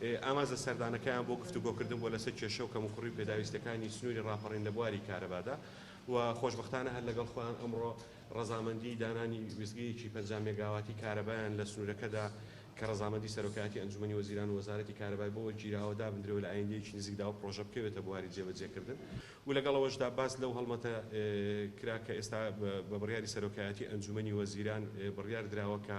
ئامانج لە سەردانەکەیان بۆ گفتوگۆکردن بووە لەسەر کێشە و کەموکوڕی و پێداویستییەکانی سنووری ڕاپەڕین لە بواری کارەبادا و خۆشبەختانە هەر لەگەڵ خۆیان ئەمڕۆ ڕەزامەندیی دانانی وێستگەیەکی پەنجا مێگاواتی کارەبایان لە سنوورەکەدا کە ڕەزامەندیی سەرۆکایەتی ئەنجوومەنی وەزیران و وەزارەتی کارەبای بۆ وەرگیراوە دابندرێ و لە ئایندەیەکی نزیکدا ئەو پڕۆژە بکەوێتە بواری جێبەجێکردن و لەگەڵ ئەوەشدا باس لەو هەڵمەتە کرا کە ئێستا بە بڕیاری سەرۆکایەتی ئەنجوومەنی وەزیران بڕیار دراوە کە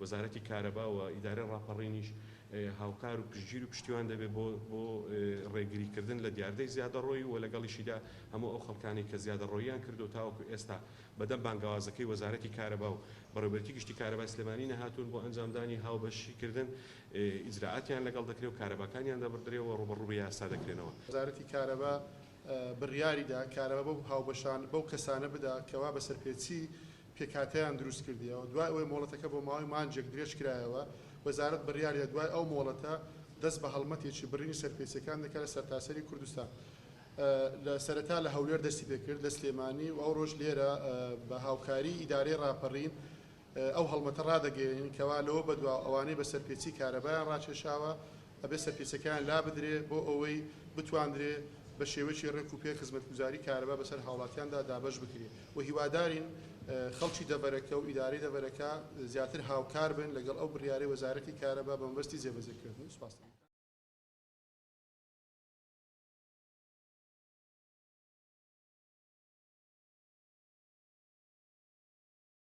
وەزارەتی کارەبا و ئیدارەی ڕاپەڕینیش هاوکار و پشتگیر و پشتیوان دەبێت بۆ بۆ ڕێگریکردن لە دیاردەی زیادەڕۆیی و لەگەڵیشیدا هەموو ئەو خەڵکانەی کە زیادەڕۆییان کردووە تاوەکو ئێستا بەدەم بانگەوازەکەی وەزارەتی کارەبا و بەڕێوەبەرێتی گشتی کارەبای سلێمانی نەهاتوون بۆ ئەنجامدانی هاوبەشیکردن ئیجرائاتیان لەگەڵ دەکرێت و کارەباکانیان دەبڕدرێ و ڕووبەڕووی یاسا دەکرێنەوە. وەزارەتی کارەبا بڕیاریدا کارەبا بەو هاوبەشان بەو کەسانە بدا کەوا بە سەرپێچی پێکهاتەیان دروست کردیەوە دوای ئەوەی مۆڵەتەکە بۆ ماوەی مانجێک درێژ کرایەوە وەزارەت بڕیاریدا دوای ئەو مۆڵەتە دەست بە هەڵمەتێکی بڕینی سەرپێچیەکان دەکات لە سەرتاسەری کوردستان لە سەرەتا لە هەولێر دەستی پێکرد لە سلێمانی و ئەوڕۆش لێرە بە هاوکاری ئیدارەی ڕاپەڕین ئەو هەڵمەتە ڕادەگەیەنین کەوا لەوە بەدواوە ئەوانەی بە سەرپێچی کارەبایان ڕاکێشاوە ئەبێت سەرپێچەکەیان لابدرێت بۆ ئەوەی بتواندرێت بە شێوەیەکی ڕێک و پێک خزمەتگوزاری کارەبا بەسەر هاوڵاتیاندا دابەش بکرێت و هیوادارین خەڵکی دەڤەرەکە و ئیدارەی دەڤەرەکە زیاتر هاوکار بن لەگەڵ ئەو بڕیارەی وەزارەتی کارەبا بە مەبەستی جێبەجێکردن سپاس